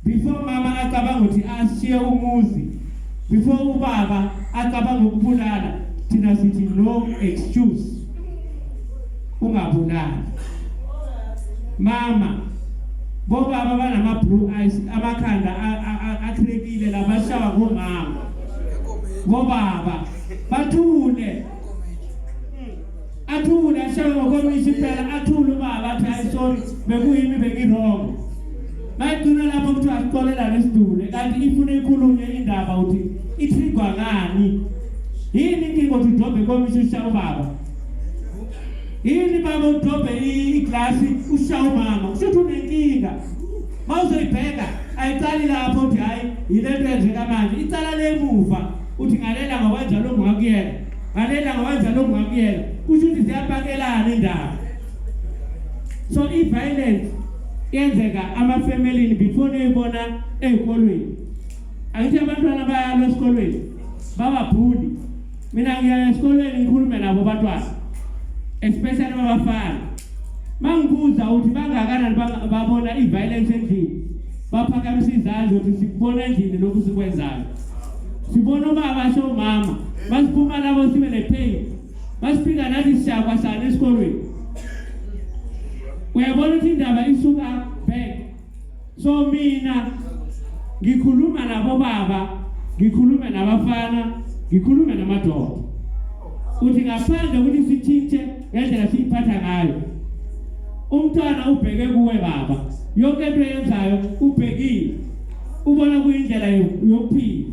before mama acabanga ukuthi ashiye umuzi before ubaba acabanga ukubulala thina sithi no excuse ungabulali mama bobaba banama blue eyes amakhanda akhrekile labashawa ngomama bobaba bathule athule ashaya ngokomisa impela athule ubaba athi hayi sorry bekuyimi bengiwrong bayigcina lapho kuthiwa sixolelane sidule kanti ifuna ikhulunywe indaba ukuthi ithigwa ngani yini inkinga ukuthi udobhe komisa ushaya ubaba yini baba udobhe iglasi ushaya umama kusho ukuthi unenkinga uma uzoyibheka ayicali lapho ukuthi hhayi yile nto yenzeka manje icala lemuva uthi ngalela ngokwenza lo ngakuyena ngalena ngawenza lokhu ngakuyela kusho ukuthi ziyapakelana indaba so i-violence yenzeka amafemelini before niyibona ey'kolweni angithi abantwana bayalo esikolweni bababhuli mina ngiya esikolweni ngikhulume nabo abantwana especially babafana ma ngibuza ukuthi bangakanani babona i-violence endlini baphakamisa izandla ukuthi sikubona endlini lokhu sikwenzayo sibona ubaba asho umama basiphuma labo sibe nepain basifika nathi siyakwa sana esikolweni uyabona ukuthi indaba isuka back so mina ngikhuluma nabo baba ngikhulume nabafana ngikhulume namadoda uthi ngaphandle ukuthi sithintshe ngendlela siyiphatha ngayo umntwana ubheke kuwe baba yonke into eyenzayo ubhekile ubona kuyindlela yokuphila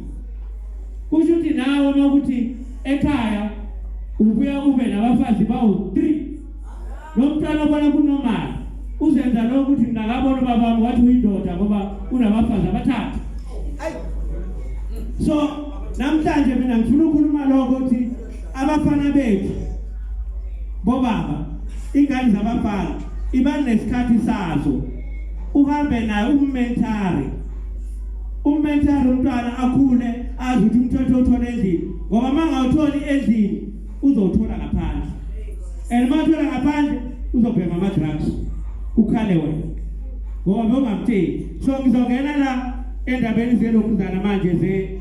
kusho ukuthi nawe uma ukuthi ekhaya ubuya ube nabafazi bawu-three lo mntwana obona kunomali uzenza lokho ukuthi ngingakabona ubabami wathi uyindoda ngoba unabafazi abathathu so namhlanje mina ngifuna ukhuluma lokho ukuthi abafana bethu bobaba ingane zabafana iba nesikhathi sazo uhambe naye ummentari ummentari umntwana akhule azi ukuthi umthetho uthole endlini ngoba uma ngawutholi endlini uzowuthola ngaphandle and uma uthola ngaphandle uzobhema ama-drugs ukhale wena ngoba bewungamtsheli so ngizongena la endabeni zelokuzana manje ze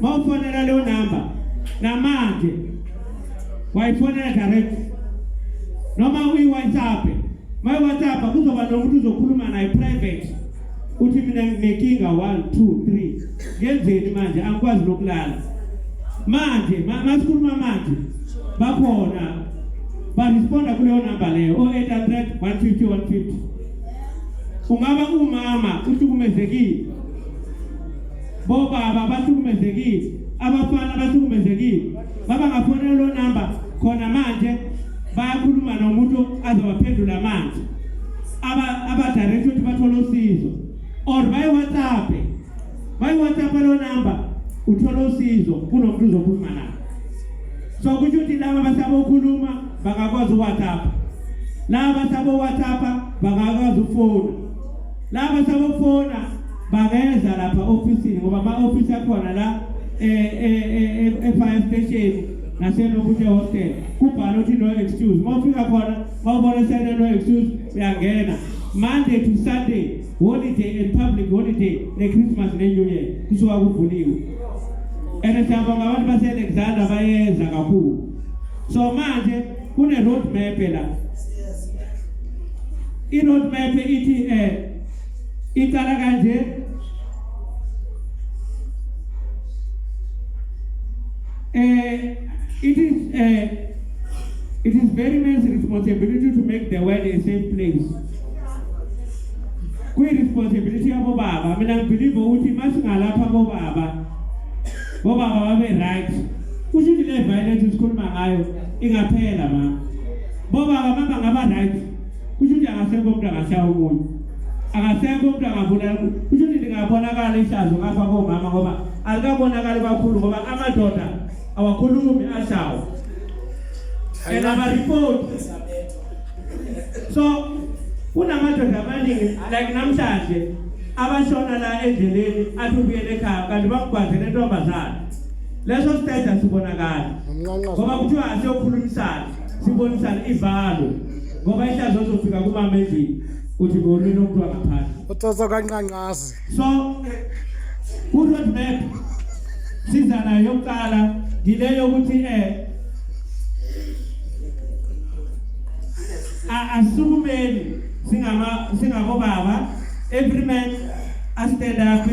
mawufonela leyo number namanje wayifonela direct noma uyi WhatsApp my WhatsApp kuzoba nomuntu uzokhuluma naye private uthi mina nginenkinga 1 2 3 ngenzeni manje angikwazi nokulala manje masikhuluma manje bakhona baresponda kuleyo number leyo 0800 150 150 ungaba umama uhlukumezekile bobaba bahlukumezekile abafana bahlukumezekile baba ngafonela lo number khona manje bayakhuluma nomuntu azobaphendula manje aba abadirector ukuthi bathole usizo or bayi WhatsApp bayi WhatsApp lo number uthola usizo kunomuntu uzokhuluma naye so kusho ukuthi laba basabokhuluma bangakwazi uWhatsApp laba basabo WhatsApp bangakwazi ufona laba sabofona bangeza lapha ofisini ngoba ama office akhona la eh eh, eh, eh e fire station nasenokuthi hostel kubhala ukuthi no excuse uma ufika khona mawubona sene no excuse uyangena monday to sunday holiday and public holiday ne-christmas ne-new year kusuka kuvuliwe and siyabonga abantu base-alexander bayeza kakhulu so manje kune road map la i road map ithi eh iqala kanje eh it is eh it is very man's responsibility to make the world a safe place kwi responsibility yabo baba mina ngibelieve ukuthi masingalapha bo baba ngoba babe right kusho ukuthi le violence sikhuluma ngayo ingaphela ma ngoba ababa ngaba right kusho ukuthi akasekho umuntu angashaya umuntu akasekho umuntu angabulala kusho ukuthi lingabonakala ihlazo ngapha komama ngoba alikabonakali kakhulu ngoba amadoda awakhulumi ashawo and amaripoti so kunamadoda amaningi like namhlanje abashona la endleleni athi ubuyele ekhaya kanti bakugwazele intombazana leso sithetha sibonakala ngoba kuthiwa asiyokhulumisana sibonisane ivalo ngoba ihlazo zofika kumama endlini uthi ngolwini omntu angaphansi utoso kanqanqazi so ku-road map siza nayo yokuqala ngile yokuthi eh asukumeni singama singabobaba every man astand up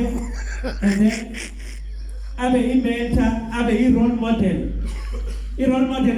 and then abe i-mentor abe i-role model i-role model